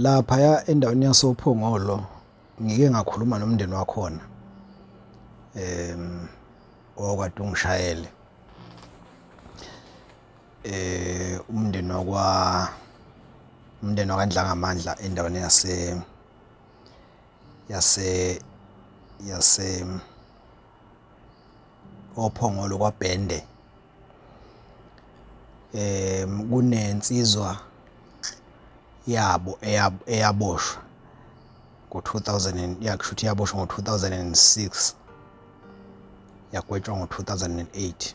Laphaya endaweni yasoPhongolo ngike ngakhuluma nomndeni wakhona um okade ungishayele eh umndeni wakwa umndeni wakandlangamandla endaweni yase yase yase ophongolo kwabhende um kunensizwa yabo eyaboshwa ngo-two thousand and ya kusho ukuthi yaboshwa ngo-two thousand and six yagwetshwa ngo-two thousand and eight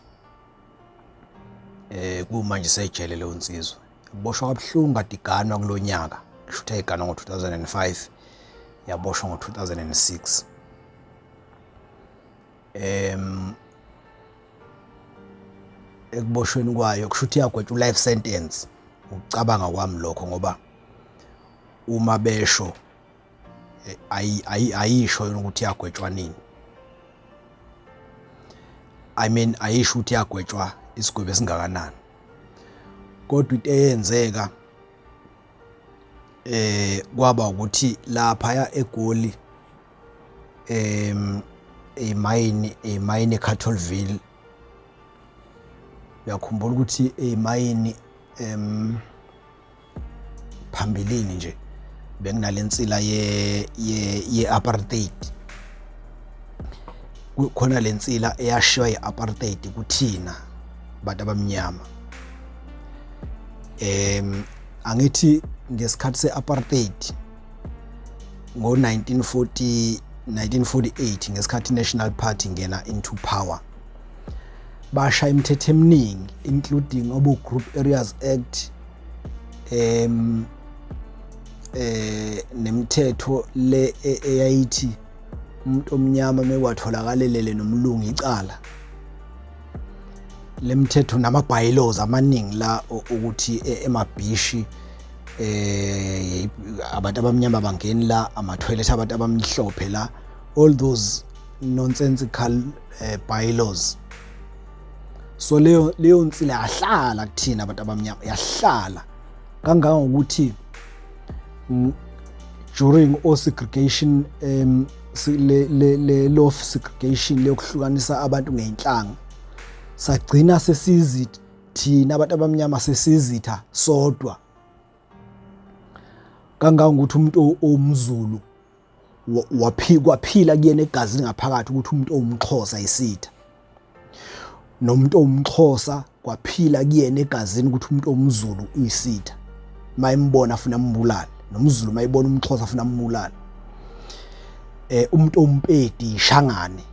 um kumanje isejele leyo nsizwa yaboshwa kabuhlungu kade iganwa kulo nyaka kusho ukuthi yayiganwa ngo-two thousand and five yaboshwa ngo-two thousand and six um ekuboshweni kwayo kusho ukuthi iyagwetshwa u-life sentence ukucabanga kwami lokho ngoba uma besho eh, ayisho yona ukuthi yagwetshwa nini i mean ayisho ukuthi yagwetshwa isigwebo esingakanani kodwa into eyenzeka eh kwaba ukuthi lapha ya egoli em emayini emayini eCattleville uyakhumbula ukuthi emayini em phambilini nje benginalensila ye ye ye apartheid kukhona lensila eyashiywa yeapartheid kuthina bantu abamnyama em angithi ngesikhathi seapartheid ngo-1940 1948 ngesikhathi i-national party ingena into power basha imithetho eminingi including obo group areas act um eh nemithetho le e, eyayithi umuntu omnyama mekwatholakalelele nomlungu icala lemithetho nama-bylaws amaningi la ukuthi e, emabhishi eh abantu abamnyama bangeni la ama-toilet abantu abamhlophe la all those nonsensical uh, bylaws so leyo leyo nsila yahlala kuthina abantu abamnyama yahlala kangangokuthi during o segregation um le le le law of segregation leyokuhlukanisa abantu ngeinhlanga sagcina sesizi thina abantu abamnyama sesizitha sodwa kangangokuthi umuntu owumzulu waphikwa phila kuyena egazi ngaphakathi ukuthi umuntu owumxhosa isitha nomuntu owumxhosa kwaphila kuyena egazini ukuthi umuntu omzulu uyisitha mayimbona afuna ambulale nomzulu mayibona umxhosa afuna ambulale eh umuntu ompedi ishangane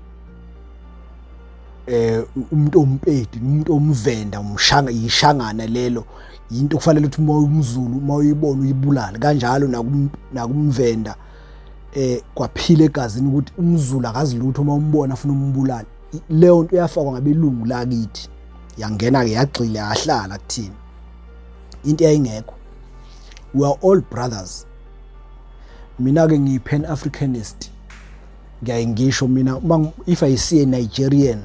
eh umuntu ompedi umuntu omvenda umshanga yishangana lelo yinto kufanele ukuthi uma umzulu uma uyibona uyibulale kanjalo nakumvenda eh kwaphila egazini ukuthi umzulu akazi lutho uma umbona afuna umbulala leyo nto yafakwa ngabelungu lakithi yangena ke yagxile yahlala kuthina into yayingekho we are all brothers mina ke ngiyi pan africanist ngiyaye ngisho mina if i see a nigerian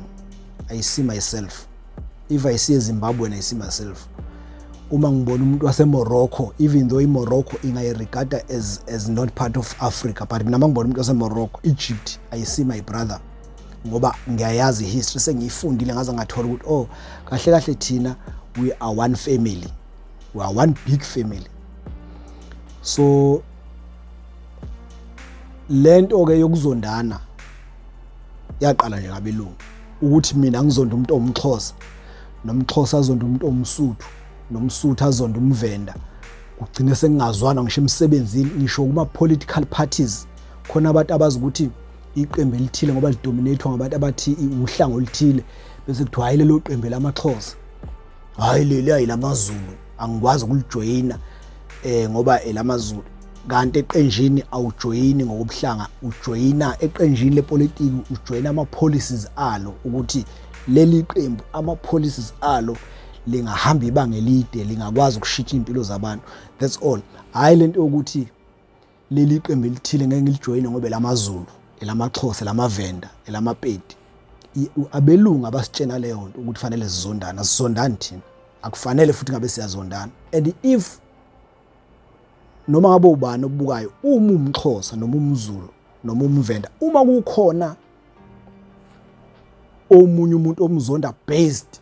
i see myself if i see ezimbabwe and i see myself uma ngibona umuntu wasemorocco even though imorocco ingayiregada as, as not part of africa but mina ma ngibona umuntu wasemorocco egypt i see my brother ngoba ngiyayazi history sengiyifundile ngaze ngathola ukuthi oh kahle kahle thina we are one family we are one big family so lento ke yokuzondana yaqala nje ngabelungu ukuthi mina ngizonda umuntu omxhosa nomxhosa azonda umuntu omsuthu nomsuthu azonda umvenda kugcine sengingazwana ngisho emsebenzini ngisho kuma political parties khona abantu abazi ukuthi iqembu elithile ngoba lidominathwa ngabantu abathi uhlango oluthile bese kuthiwa hayi lelo qembu lamaxhosa hayi leli hayi lamazulu angikwazi ukulijoyina eh ngoba elamazulu kanti eqenjini awujoyini ngokubuhlanga ujoyina eqenjini lepolitiki ujoyina ama policies alo ukuthi leli qembu ama policies alo lingahamba ibanga elide lingakwazi ukushitsha impilo zabantu that's all hayi lento yokuthi leli iqembu elithile ngeke ngilijoyine ngoba elamaZulu elamaXhosa elamavenda elamapedi abelungu abasitshena leyo nto ukuthi fanele sizondana sizondani thina akufanele futhi ngabe siyazondana and if noma ngabe ubani obubukayo uma umXhosa noma umZulu noma umvenda uma kukhona omunye umuntu omzonda based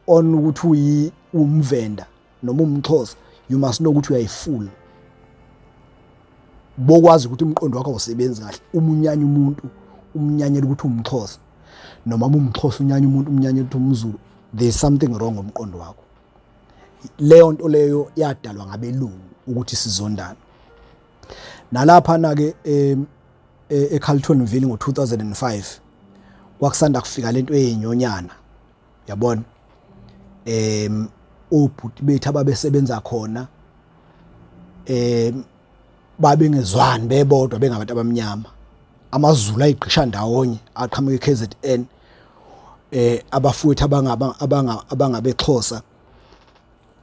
on ukuthi uyi umvenda noma umxhosa you must know ukuthi uyayifula bokwazi ukuthi umqondo wakho awusebenzi kahle uma unyanya umuntu umnyanyela ukuthi umxhosa noma umxhosa unyanya umuntu umnyanyela ukuthi umzulu there is something wrong ngomqondo wakho leyo nto leyo yadalwa ngabelungu ukuthi sizondana nalapha na ke e, eCarltonville ngo2005 kwakusanda kufika lento eyenyonyana yabona em obhuti bethu ababesebenza khona em babengezwani bebodwa bengabantu abamnyama amazulu ayigqisha ndawonye aqhamuke KZN eh abafowethu abangaba abanga abangabexhosa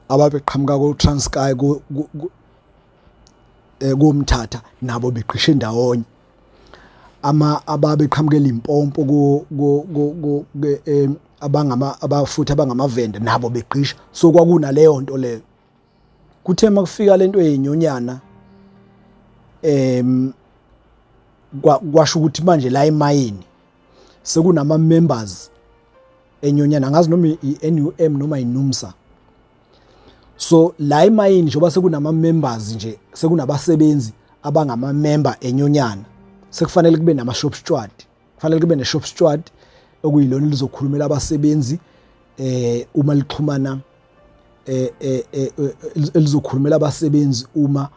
ababeqhamuka ku Transkei ku eh, kumthatha nabo begqishe ndawonye ama ababeqhamuka eLimpopo ku eh, abangama abafuthi abangamavende nabo begqisha so kwakunaleyo nto leyo kuthe makufika lento yenyonyana em kwasho ukuthi manje la emayini sekunama members enyonyana ngazi noma iNUM noma iNUMSA so la emayini njengoba sekunama members nje sekunabasebenzi abangama member enyonyana sekufanele kube nama shop steward kufanele kube ne shop steward okuyilona lizokhulumela abasebenzi eh uma lixhumana eh, eh, eh, eh elizokhulumela abasebenzi uma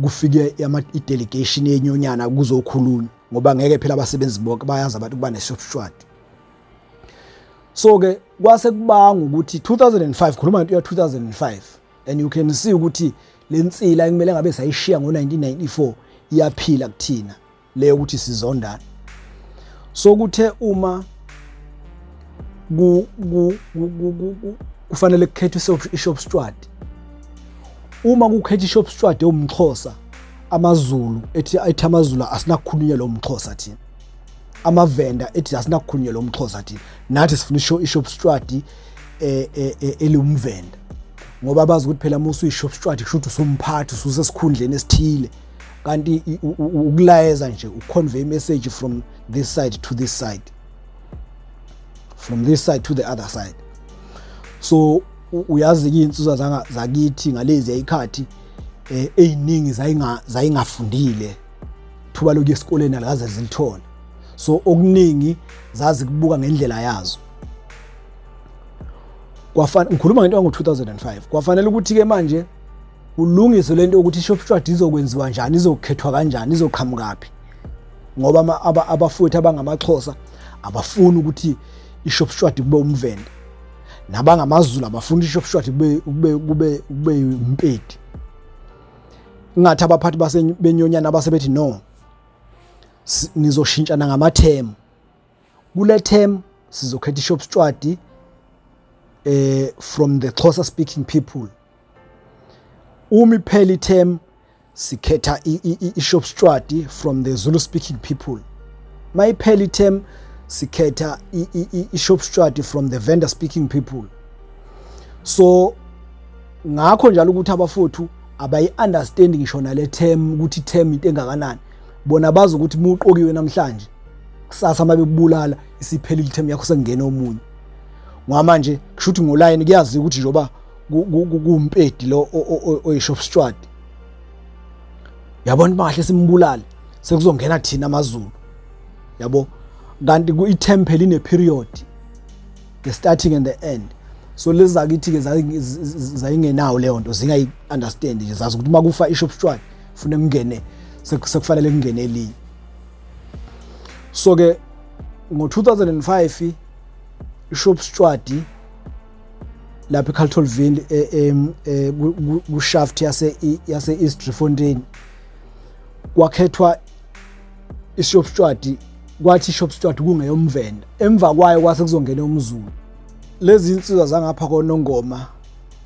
kufike i-delegation yenyonyana kuzokhulunywa ngoba ngeke phela abasebenzi bonke bayazi abantu kuba neshopshwadi so-ke kwase kubanga ukuthi 2005 khuluma ngento ya-2005 and you can see ukuthi le nsila ekumele ngabe sayishiya ngo-1994 iyaphila kuthina le ukuthi sizondana so kuthe uma ku kufanele kukhethwe ishop steward uma kukhetha ishop steward ewumxhosa amazulu ethi ethi amazulu asinakukhulunywa lo mxhosa thina amavenda ethi asinakukhulunywa lo mxhosa thina nathi sifuna isho ishop steward e, e, e, eliwumvenda ngoba bazi ukuthi phela uma usuyishop steward kusho ukuthi usumphathi ususesikhundleni esithile kanti ukulayeza nje uconvey message from this side to this side from this side to the other side so uyazi-ke iy'nsizwa zakithi ngalezi yayikhathi um eh, ey'ningi zayingafundile thuba lokuya esikoleni alikaze zilithole so okuningi zazi kubuka ngendlela yazo ngikhuluma ngento yango-2005 kwafanele ukuthi-ke manje kulungiswe le nto yokuthi ishopshwadi izokwenziwa njani izokhethwa kanjani izoqhamukaphi ngoba abafowethu abangamaxhosa abafuni ukuthi ishopshwadi kube umvende nabangamazulu abafuni ishopshwadi kube umpedi ingathi abaphathi basebenyonyana abasebethi no nizoshintshana ngamathemu kule term sizokhetha ishopshwadi eh from the Xhosa speaking people Uma iphela i-term sikhetha i-shop strati from the Zulu speaking people. Mayiphela i-term sikhetha i-shop strati from the vendor speaking people. So ngakho njalo ukuthi abafowethu abayi-understand ngisho nale term ukuthi term into engakanani bona bazi ukuthi muqokiwe namhlanje kusasa uma bekubulala isiphelile term yakho sekungena omunye ngoba manje kusho ukuthi ngolayini kuyaziwa ukuthi njengoba kumpedi lo oyishop steward yabona bahle simbulale sekuzongena thina amazulu yabo kanti ku-itemple ine period the starting and the end so lezi zakithi-ke zayingenawo leyo nto zingayi-understand nje zazi ukuthi uma kufa ishop steward fune kungene sekufanele kungene elinye so-ke ngo-2005 ishop steward lapha eCaltolville eh, eh, eh, kushaft yase yase East Driefontein kwakhethwa iShop Steward kwathi iShop Steward kungeyomvenda emva kwayo kwase kuzongena umzulu lezi insizwa zangapha konongoma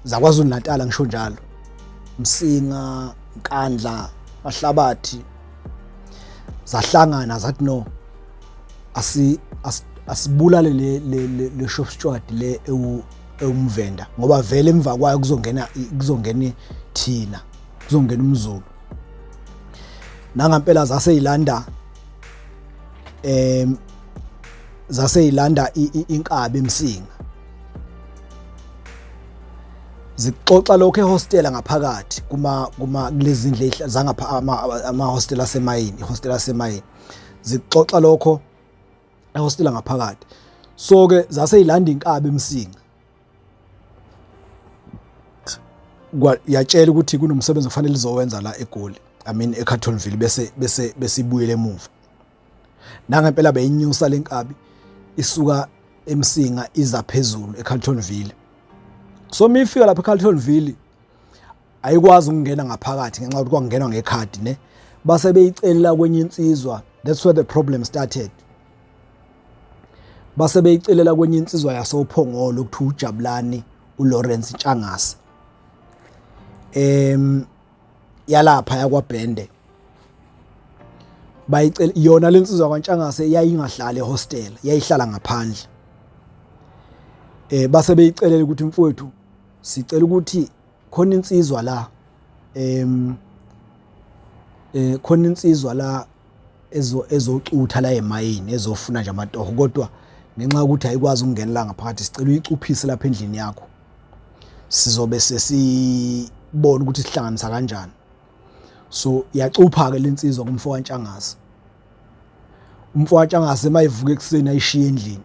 zaKwaZulu Natal ngisho njalo Msinga Nkandla Mahlabathi zahlangana zathi no asi asibulale le le le shop steward le ewu ewumvenda ngoba vele emva kwayo kuzongena kuzongena thina kuzongena umzulu nangampela zase yilanda em zase yilanda inkabi emsinga zixoxa lokho ehostela ngaphakathi kuma kuma kulezindle zangapha ama hostela semayini ihostela semayini zikuxoxa lokho ehostela ngaphakathi so ke zase ilanda inkabi emsinga yatshela ukuthi kunomsebenzi ofanele izowenza la egoli i mean eCartonville bese bese besibuyele emuva nangempela beyinyusa lenkabi isuka emsinga iza phezulu eCartonville so mifika lapha eCartonville ayikwazi ukungena ngaphakathi ngenxa yokuthi kwangenwa ngekhadi ne base beyicelela kwenye insizwa that's where the problem started base beyicelela kwenye insizwa yasophongolo ukuthi ujabulani uLawrence Ntshangase em yalapha yakwabhende bayicela yona lensizwa kwaNtshangase yayingahlali hostel yayihlala ngaphandle eh base beyicelela ukuthi mfowethu sicela ukuthi khona insizwa la em eh khona insizwa la ezo ezocutha la emayini ezofuna nje amatoho kodwa ngenxa yokuthi ayikwazi ukungenela ngaphakathi sicela uyicuphise lapha endlini yakho sizobe sesibona ukuthi sihlanganisa kanjani so yacupha ke lensizwa kumfo kaNtshangase umfo kaNtshangase mayivuka ekuseni ayishiye endlini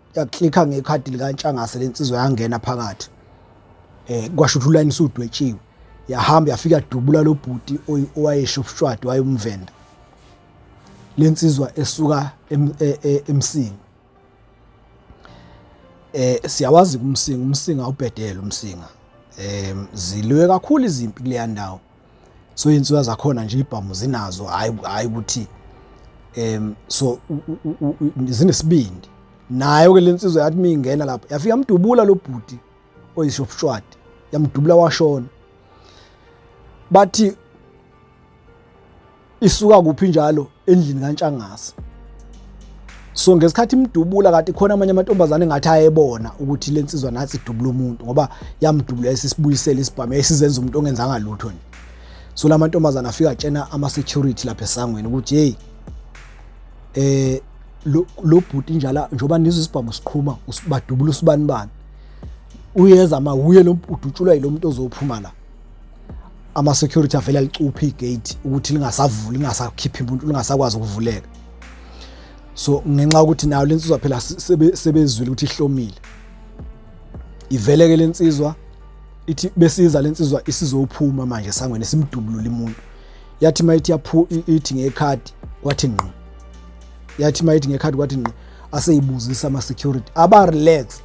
yaklikha ngekhadi likantshangase lensizwa yangena phakathi eh kwasho ukuthi ulayini usudwetshiwe yahamba yafika dubula lo bhuti owayesho ubushwadi wayomvenda lensizwa esuka e, e, emsinga eh siyawazi kumsinga umsinga ubhedela umsinga eh zilwe kakhulu izimpi kuleya ndawo so iy'nsuya zakhona nje ibhamu zinazo hhayi ukuthi um so zinesibindi nayo-ke le nsizwa yathi uma ingena lapho yafike yamdubula lo bhuti oyishopshwadi yamdubula washona bathi isuka kuphi njalo endlini kaNtshangase so ngesikhathi imdubula kanti khona amanye amantombazane ngathi ayebona ukuthi le nsizwa nathi idubula umuntu ngoba yamdubula esisibuyisela isibhamu esizenza umuntu ongenzanga lutho nje so la mantombazane afika atshena ama-security lapha esangweni ukuthi heyi eh lo bhuti njala njengoba nizwe isibhamu siqhuma badubula usibanibani uyeza ma wuye lo udutshulwa yilo muntu ozophuma la ama security avele alicuphe igate ukuthi lingasavuli lingasakhiphi umuntu lingasakwazi ukuvuleka so ngenxa ukuthi nayo lensizwa phela sebezwile ukuthi ihlomile iveleke lensizwa ithi besiza lensizwa isizophuma manje sangweni simdubulula imuntu yathi mayithi yaphu ithi ngekhadi kwathi ngqo yathi mayithi ngekhadi kwathi ngqo aseyibuzisa ama security aba relaxed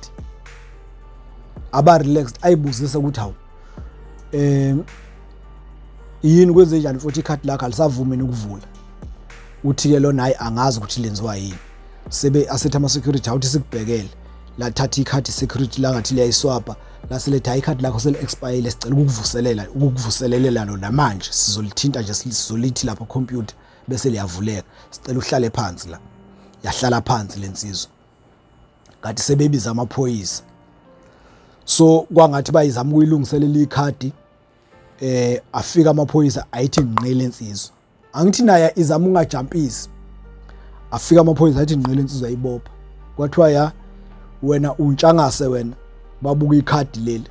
aba relaxed ayibuzisa ukuthi hawu eh yini kwenze njani futhi ikhadi lakhe alisavumi ukuvula uthi ke lona hayi angazi ukuthi lenziwa yini sebe asethe ama security awuthi sikubhekele lathatha ikhadi security langathi liyayiswapa laseletha hayi ikhadi lakho sele expire sicela ukukuvuselela ukukuvuselelela lona manje sizolithinta nje sizolithi lapha computer bese liyavuleka sicela uhlale phansi la yahlala phansi lensizwa ngathi sebebiza amaphoyisa so kwangathi bayizama ukuyilungiselela ikhadi eh afika amaphoyisa ayithi nqile insizwa angithi naye izama ungajampisi afika amaphoyisa ayithi nqile insizwa ibopha kwathiwa ya wena untshangase wena babuka ikhadi leli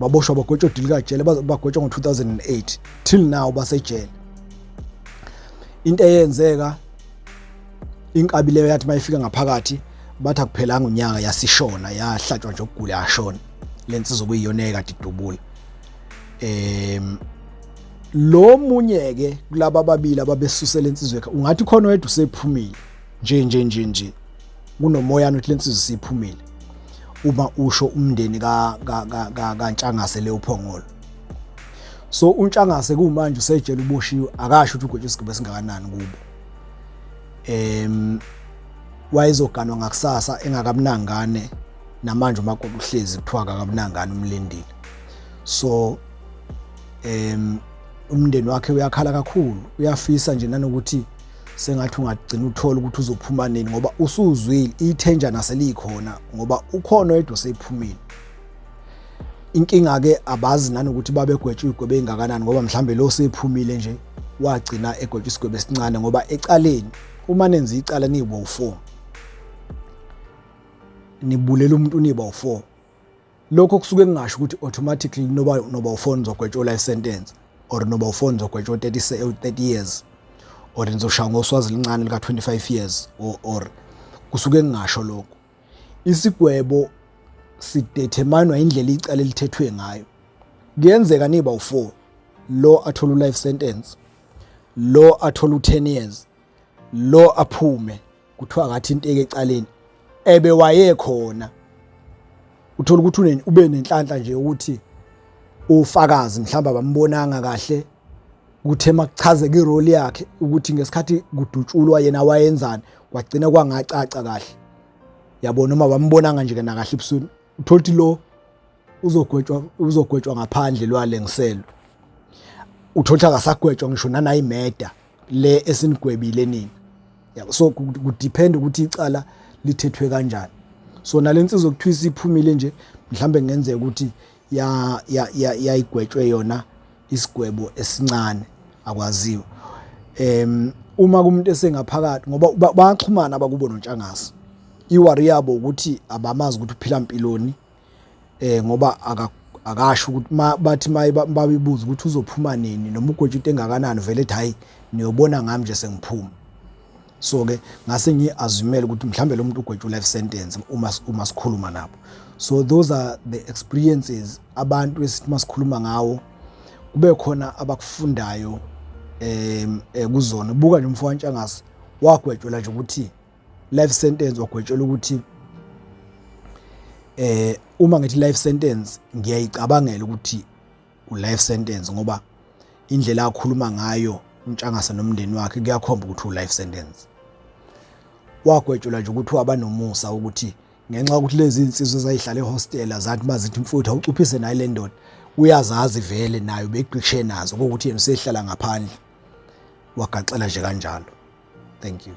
baboshwa bagwetshwa odili kajele bagwetshwa ngo-2008 till now basejele into eyenzeka inkabi leyo yathi mayifika ngaphakathi bathi akuphelanga unyaka yasishona yahlatshwa nje ukugula yashona lensizwa kuyiyona ekade idubula em lo munye ke kulabo ababili ababesusela insizwe ungathi khona wedwa usephumile nje nje nje nje kunomoyana ukuthi lensizwe siphumile uma usho umndeni ka ka ka kantshangase le uphongolo so untshangase kumanje usejele uboshiwe akasho ukuthi ugwetshe isigaba esingakanani kubo em wayezoganwa ngakusasa engakamnangane namanje uma kokuhlezi kuthiwa akakamnangane umlindile so em umndeni wakhe uyakhala kakhulu uyafisa nje nanokuthi sengathi ungagcina uthola ukuthi uzophuma nini ngoba usuzwile ithenjana selikhona ngoba ukhona oyedwa osephumile inkinga ke abazi nani ukuthi babegwetshwa igwebe engakanani ngoba mhlambe lo sephumile nje wagcina egwetshwa isigwebe esincane ngoba ecaleni uma nenza icala nibo u4 nibulela umuntu niba u4 lokho kusuke kungasho ukuthi automatically noba noba ufona uzogwetshwa life sentence or noba ufona uzogwetshwa 30 30 years or nizoshaya ngoswazi lincane lika 25 years or, or kusuke kungasho lokho isigwebo sideterminwa indlela icala elithethwe ngayo kuyenzeka niba u4 lo athola life sentence lo athola u10 years lo aphume kuthiwa ngathinteka ecaleni ebe wayekhona uthola ukuthi ube nenhlanhla nje ukuthi ufakazi mhlawumbe abambonanga kahle ukuthi emakuchazeka irole yakhe ukuthi ngesikhathi kudutshulwa yena wayenzani kwagcina kwangacaca kahle yabona uma bambonanga nje kana kahle ebusweni uthola ukuthi lo uzogwetshwa uzogwetshwa ngaphandle lwalengiselo uthola ukuthi akasagwetshwa ngisho nanayimeda le esinigwebile nini yabo so kudepend ukuthi icala lithethwe kanjani so nalensizwa kuthiwa isiphumile nje mhlambe kungenzeka ukuthi ya yayigwetshwe yona isigwebo esincane akwaziwa em uma kumuntu esengaphakathi ngoba bayaxhumana abakubo nontshangase iwari yabo ukuthi abamazi ukuthi uphila impiloni eh ngoba akasho ukuthi bathi bayibuza ukuthi uzophuma nini noma ugwetshwa into engakanani vele ethi hhayi niyobona ngami nje sengiphuma so ke ngase ngiyi-azumele ukuthi mhlawumbe lo muntu ugwetshwa u-life sentence uma uma sikhuluma nabo so those are the experiences abantu esithi uma sikhuluma ngawo kube khona abakufundayo um kuzona buka nje umfo wantshangase wagwetshelwa nje ukuthi life sentence wagwetshelwa ukuthi eh uma ngithi life sentence ngiyayicabangela ukuthi u life sentence ngoba indlela akhuluma ngayo untshangase nomndeni wakhe kuyakhomba ukuthi u life sentence wagwetshelwa nje ukuthi wabanomusa ukuthi ngenxa yokuthi lezi insizwe zayihlala ehostela zathi mazithi mfuthu awucuphise nayo le ndoda uyazazi vele nayo begqishe nazo ukuthi yena usehlala ngaphandle wagaxela nje kanjalo Thank you.